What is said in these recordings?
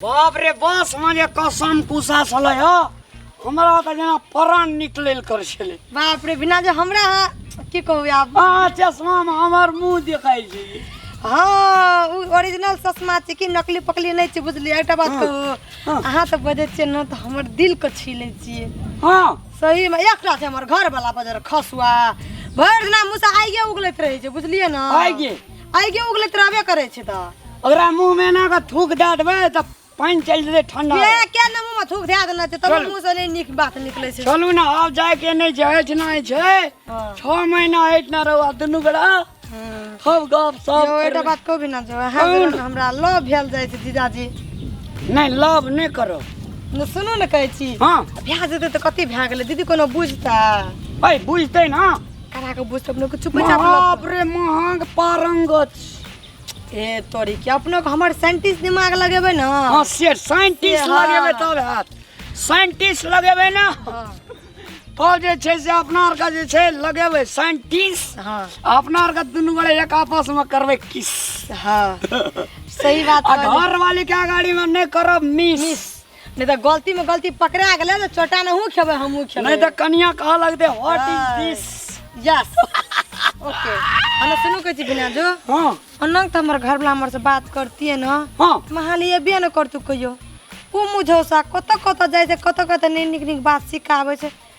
बाप रे बस में जे कसम कुसा छलै ह हमरा तऽ जेना प्राण निकलल कर छलै बाप रे बिना जे हमरा अहाँ की कहू आब आ चश्मा में हमर मुंह देखाई छै हाँ उ ओरिजिनल ससमा छै कि नकली पकली नहीं छै बुझलिए एकटा बात हाँ, कहू हाँ। अहाँ तऽ बजै छियै ने तऽ हमर दिल के छीले छियै हां सही में एकटा छै हमर घर वाला बजर खसुआ भरि दिना मुसा आइए उगलैत रहै छै बुझलिए ने आइए। आगे उगले तराबे करे छे त ओकरा मुंह में ना के थूक दे देबे त पानी चल जेते ठंडा के के न मुंह में थूक दे देना छे तब चल। मुंह से नहीं निक बात निकले छे चलू ना आब जाए के नहीं जाए के नहीं छे हाँ। छह महीना हट ना रहो दुनू गड़ा सब गप सब जो एटा बात को भी ना जो है कौन? जरूर हमरा लो भेल जाय छे जीजाजी नहीं लव नहीं करो न सुनो न कहै छी हाँ भ्या जेते त कति भ्या गेले दीदी कोनो बुझता भाई बुझते ना करा के बुझ अपने के चुपे चाप बाप रे महंग पारंगत ए तोरी के अपने के हमर साइंटिस्ट दिमाग लगेबे ना हां से साइंटिस्ट हाँ। लगेबे तब हाथ साइंटिस्ट लगेबे ना हाँ। तब जे छै से अपना आर का जे छै लगेबे साइंटिस्ट हां अपना आर का दुनू गोरे एक आपस में करबे किस हां सही बात आ कहली। घर वाली के गाड़ी में नहीं करब मिस नहीं तो गलती में गलती पकड़ा गेले तो छोटा नहू खेबे हमहू खेबे नहीं तो कनिया कहा लगते व्हाट इज हाँ। दिस यस ओके अन सुनु के जी बिना जो हां अनंग तो हमर घर वाला हमर से बात करती है ना हां महाली ये भी न करतु कहियो ओ मुझे सा कत कत जाय से कत कत नहीं निक निक बात सिखावे से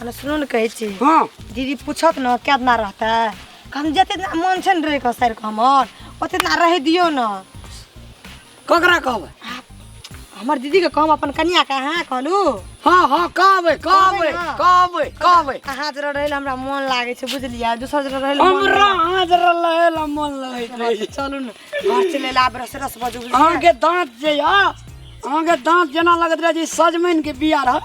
अरे सुनू ने कहै छी हँ दीदी पूछत ने क्या दिना रहतै हम जते दिना मन छै ने रहैके सर हमर ओते दिना रहि दियौ ने ककरा कहबै हमर दीदीके कहब अपन कनियाके अहाँ कहलू हँ हँ कहबै कहबै कहबै ने? कहबै कहबै अहाँ जरा रहै लए हमरा मोन लागै छै बुझलियै दोसर जरा रहै लए मोन हमरा नहि अहाँ जरा लहे ला मन लगैत रहै लागै छै। चलू ने घर चले ला आब रस रस बजू बुझलियै? अहाँके दाँत जे यऽ अहाँके दाँत जेना लगैत रहै जे सजमनि के बिया रहत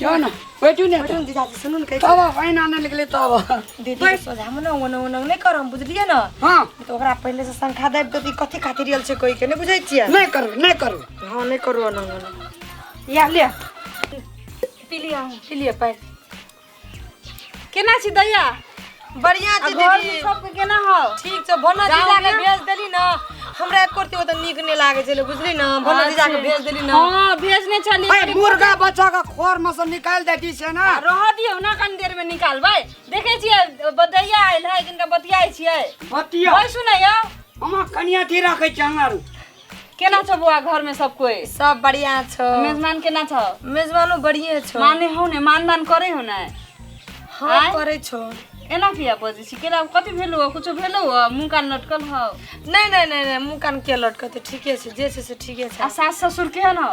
जाओ ना बैठू ने बैठू दीदा जी सुनू ने कहि तब पानि आने लगले तब दीदी सोझा हम ना ओने ओने नहि करम बुझलियै ने हाँ तो ओकरा पहिले से संख्या देब तो ई कथी खातिर रियल छै कोई के नहि बुझै छियै नहीं करू नहीं करू हाँ नहि करू ओने ओने या ले पी लिया पी लिया पानि केना छी दैया बढ़िया आ छी घर दीदी में सब के केना हो ठीक छै भोना गाँव जीजा के में? भेज देली ना हमरा एक कोरती ओतऽ नीक नहि लागे छलै बुझली ना भोना जीजा के भेज देली ना हां भेजने छली अरे मुर्गा बच्चा का खोर में से निकाल दे दी से ना रह दियो ना कनी देर में निकालबै देखे छियै बदैया आयल है किनका बतियाइ छियै बतिया ओइ सुनै यौ हम कनिया थी रखे चंगर केना छौ बौआ घर में सब कोई सब बढ़िया छौ मेजमान केना छौ मेजमानो बढ़िए छौ माने हो ने मानदान करे हो ने हाँ आँय? करे छौ एना किया बजै छी केना कथी भेलौ कुछो भेलौ मुंह कान लटकल हौ नहीं नहीं नहीं नहीं मुँह कान के लटकते ठीके छै जे छै से ठीके आ छै सास ससुर केहन हौ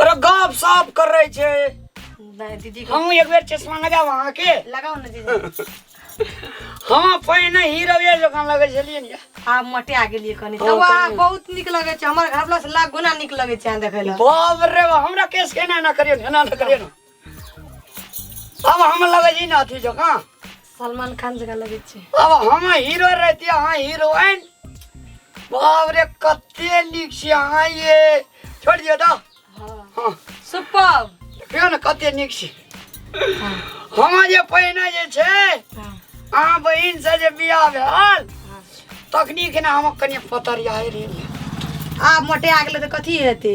अरे गप साफ कर रहे छे नहीं दीदी को हम एक बेर चश्मा लगा वहां के लगाओ ना दीदी हम पहिने हीरो ये दुकान लगे छलिए ने आप मटे आगे लिए कनी हाँ, तब आ कनी। बहुत निक लगे छे हमर घर वाला से लाख गुना निक लगे छे देखे ला बाप रे बाप, हमरा केस के ना ना करियो ना ना करियो ना अब हम लगे छी ना अथी जकाँ सलमान खान जगह लगे छै अब हम हीरो रहती अहाँ हीरोइन बाप रे कते नीक छी अहाँ ये छोड़ दियो तऽ हाँ हाँ सुपर देखियौ ने कते नीक छी हाँ हम जे पहिने जे छै हाँ अहाँ बहिन से जे बियाह भेल हाँ तखनी के ने हम कनि पतरियाए रही आब मोटे आ गेलै तऽ कथी हेतै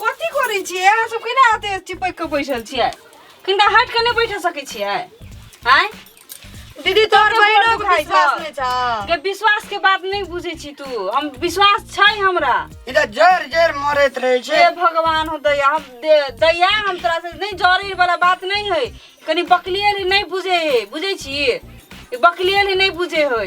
कथी करै छियै अहाँ सब केना एते चिपक के बैठल छियै किनका हट के नहि बैठ सकै छियै आय दीदी तोहर तोहर बहिनो बहिनो के खाइ विश्वास छौ। नहि छौ के विश्वास के बात नहि बुझै छी तू हम विश्वास छै हमरा ई तऽ जर जर मरैत रहै हे छै भगवान हो दया हम दे- दया हम तोरा से नहीं जरे वाला बात नहीं है कनी बकलियल ही नहीं बुझे है बुझे छी ई बकलियल ही नहीं बुझे है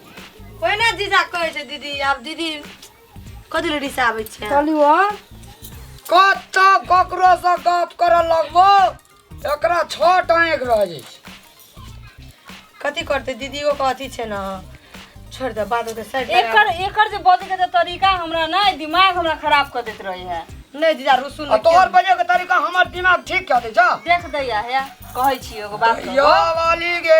ओहिना जीजा कहै छै दीदी आब दीदी कथी लए रिसाबै छै चलू ओ कत ककरो से गप करऽ लगबो एकरा छह टाँग रह जाइ छै कथी करतै दीदियो के अथी छै ने छोड़ दे बात ओते साइड एकर एकर जे बजे के जे तरीका हमरा ना दिमाग हमरा खराब कर देत रहे है नहीं दीदा रुसु आ तोहर बजे के तरीका हमर दिमाग ठीक कऽ दै छह देख दैया है कहै छी एगो बात कहू। यो वाली गे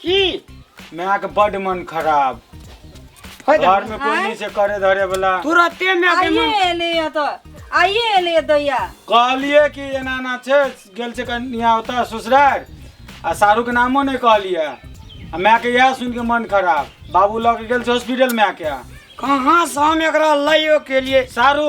की माय के बड मन खराब होय दे। घर में कोई नहीं से करे धरे वाला तुरते में आके आइए मन एले या तो आइए एले या दैया कहलिए कि एना ना छे गेल छे कन्या होता ससुरार आ सारू के नामो नहीं कहलिए आ माय के यह सुन के मन खराब बाबू लग गेल छे हॉस्पिटल में आके कहाँ से हम एकरा लाइयो के लिए सारू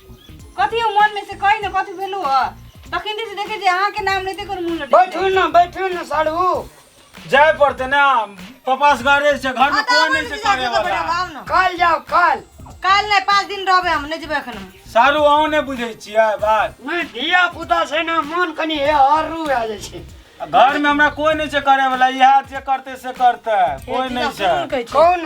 कथी हो मन में से कही ना कथी भेलू हो तखन से देखे जे अहाँ के नाम लेते कोनो मुंह लटक बैठू ना बैठू ना साढ़ू जाए पड़ते ना पापा से घरे से घर में कोई नहीं से करे वाला काल जाओ काल काल नहीं पाँच दिन रहबे हम नहीं जेबे एखन हम। सारू अहूँ ने बुझे छियै बात मैं धिया पुता से ना मन कनी हे हरू आ जाइ छै घर में हमरा कोई नहीं से करे वाला इहा जे करते से करते कोई नहीं से कौन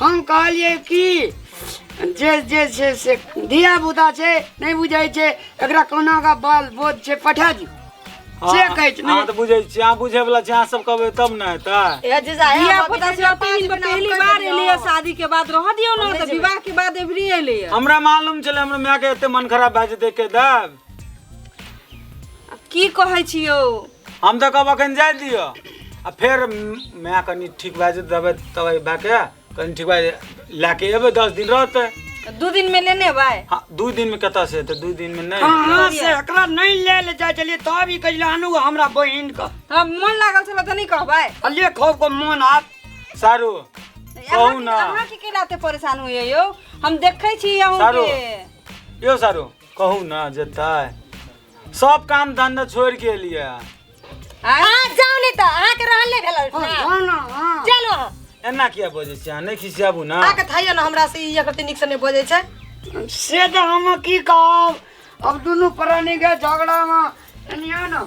हम कहलिए कि जे जे छै से धिया पुता छै नहि बुझै छै एकरा कोना का बाल बोध छै पठा दियौ से कहै छै अहाँ तऽ बुझै छी अहाँ बुझे वाला छी अहाँ सब कहबै तब ने हेतै ए जीजा ए धिया पुता से पहिल पहली बार एलिए शादी के बाद रह दियो ना तो विवाह के बाद एवरी एलिए हमरा मालूम छलै हमरा माय के एते मन खराब भए जेतै के देब की कहै छियो हम तऽ कहब अखन जाय दिअ आ फेर माय कनि ठीक भए जेतै दबाइ तबाइ भए के कनि ठीक भए लए के एबै दस दिन रहतै दू दिन में लेने भाई हाँ, दू दिन में कतऽ से एतै दू दिन में नहीं कहाँ से एकरा नहीं ले ले जाए चलिए तब ई कहिला हनु हमरा बहिन का हाँ, मन लागल छल तऽ नहीं कहबै अलिए खो को मन हाथ सारू कहू अहाँ ना अहाँ के केलाते परेशान होइए यौ हम देखै छी अहूँ सारू। के यो सारू कहू ना जेतै सब काम धंधा छोड़ के लिए अहाँ जाउ नहि तऽ अहाँके रहल नहि भेल चलू अहाँ एना किया बजै छी अहाँ नहि खिसियाबू ना अहाँके थाइयो ने हमरा से ई एकरती नीक से नहि बजै छै से तऽ हम की कहब अब दुनू प्राणी के झगड़ा में एनियो न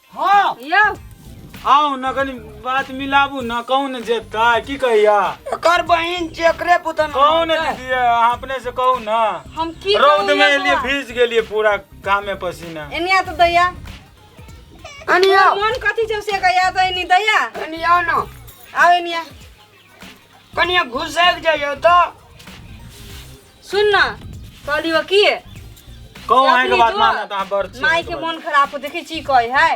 हाँ यौ आउ न कनी बात मिलाबू न कौन जेता की कहिया एकर बहिन जेकरे पुतन कौन दीदी अहाँ अपने से कहू न हम की रौद कहू में यौ एलिए बौआ? भीज गेलिए पूरा कामे पसीना एनिया तो दैया अनिया तोर मन कथी छौ से कहिया तो एनी दैया अनिया न आउ एनिया कनिया घुसैक जाइयो तो सुन ना कहली हो की कहू अहाँ के बात मानत अहाँ बड़ छी माई के मन खराब हो देखै छी कहै है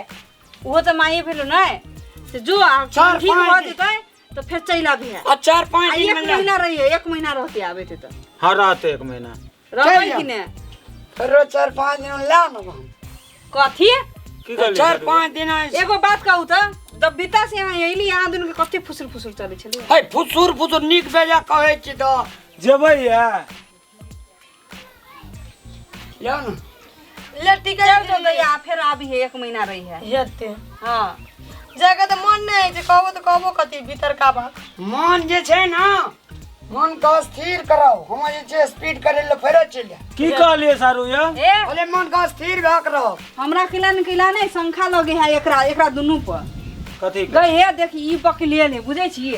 ओहो तऽ माइए भेलो नै से जो आ चार, ठीक पाँच भऽ दिन। जेतै तऽ फेर चलि आबी है आ चार आ पाँच एक दिन में ना- महीना रहिए एक महीना रहते आबे ते तऽ हँ रहते एक महीना रहबै जाउ। कि ने फेरो चार पाँच दिन ला न हम कथी की कहली चार पाँच दिन आइ- एगो बात कहू तऽ जब बीता से यहाँ अयली अहाँ दुनू के कते फुसुर फुसुर चलै छलै है फुसुर फुसुर नीक बेजा कहै छी तऽ जेबै या यौ ने ले टिकट चल दे जल्दी आ फेर आबी है एक महीना रही है हेते हाँ जाके तऽ मन नहि होइ छै कहबो तऽ कहबो कथी भीतरका बात मन जे छै ने मन के स्थिर कराओ हम जे छै स्पीड करे ले फेरो चलि जाए की कहलिए सारू या ए बोले मन के स्थिर भए के रहो हमरा किला ने किला नहीं शंखा लगे है एकरा एकरा दुनू पर कथी के? गई है देखी ई बकलिए ने बुझे छी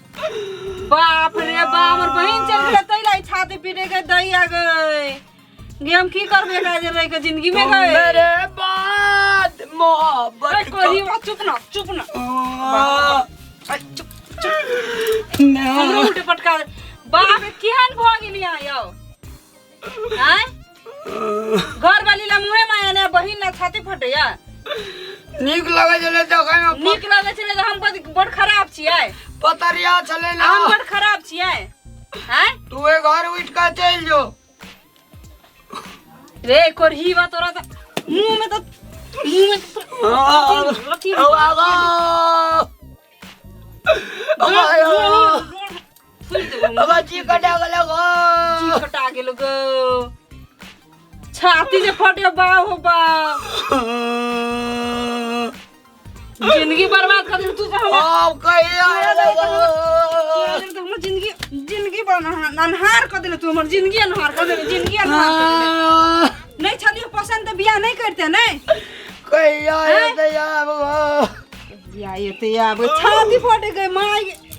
बाप रे बाप हमर बहिन चल गेलै तै लाई छाती पीटे के दई आ गए गे हम की करबे एकरा जे रह के जिंदगी में गए मेरे बाद अरे मोहब्बत कोरी बा चुप ना चुप ना अरे चुप हमरो उल्टे पटका दे। बाप रे केहन भऽ गेलिया यौ आय घर वाली ला मुहे माया ने बहिन ना छाती फटैया नीक लगे छले देखे में नीक लगे छले त हम बड़ बड़ खराब छियै पतरिया छले ना हम बड़ खराब छियै आय तू ए घर उठ के चल जो रे कोरही बा तोरा त मुंह में त मुंह में त तोरा- अथी- अथी- ओ आगो ओ आयो फुल देबो बाबा जी कटा गेल गो जी कटा गेल गो छाती जे फटे बा हो बा जिंदगी बर्बाद कर दे तू तो हम अब कहिया आयल गो तो हमर जिंदगी जिंदगी बन अनहार कर देले तू हमर जिंदगी अनहार कर देले जिंदगी अनहार कर देले। नहीं छलियो पसंद तो बियाह नहीं करते नहीं कहिया आयल गो बियाह ये तो आब छाती फटे गई माय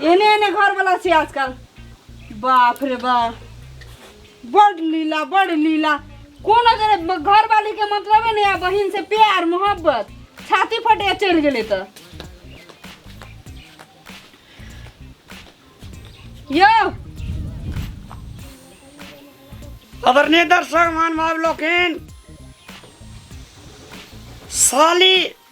एने एने घर वाला छी आजकल बाप रे बाप बड़ लीला बड़ लीला कोन अगर घर वाली के मतलब है ना बहन से प्यार मोहब्बत छाती फटे चढ़ गए तो यो आदरणीय दर्शक मान भाव लोकिन साली